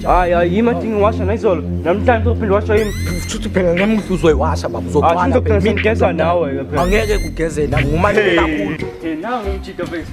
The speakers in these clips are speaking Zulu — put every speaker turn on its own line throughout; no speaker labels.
hayi hayi yima ndingiwasha nayizolo namhlanje uzophinde washa yimi futhi phela namuhla
uzoyiwasha baba uzothwala phela ngigeza
nawe phela angeke kugezela
ngumane kakhulu nawe umjita
base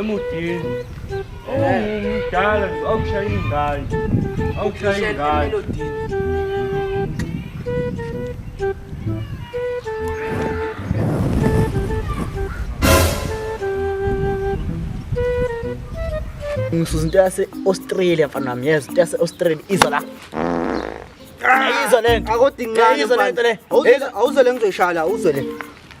emudini umdala awushaya ingane awushaya
ingane ngisuza into yase-australia mfana wami yes into yase-australia izwa la ayizwa le nto akodinqane awuzwe le ngizoyishala
awuzwe le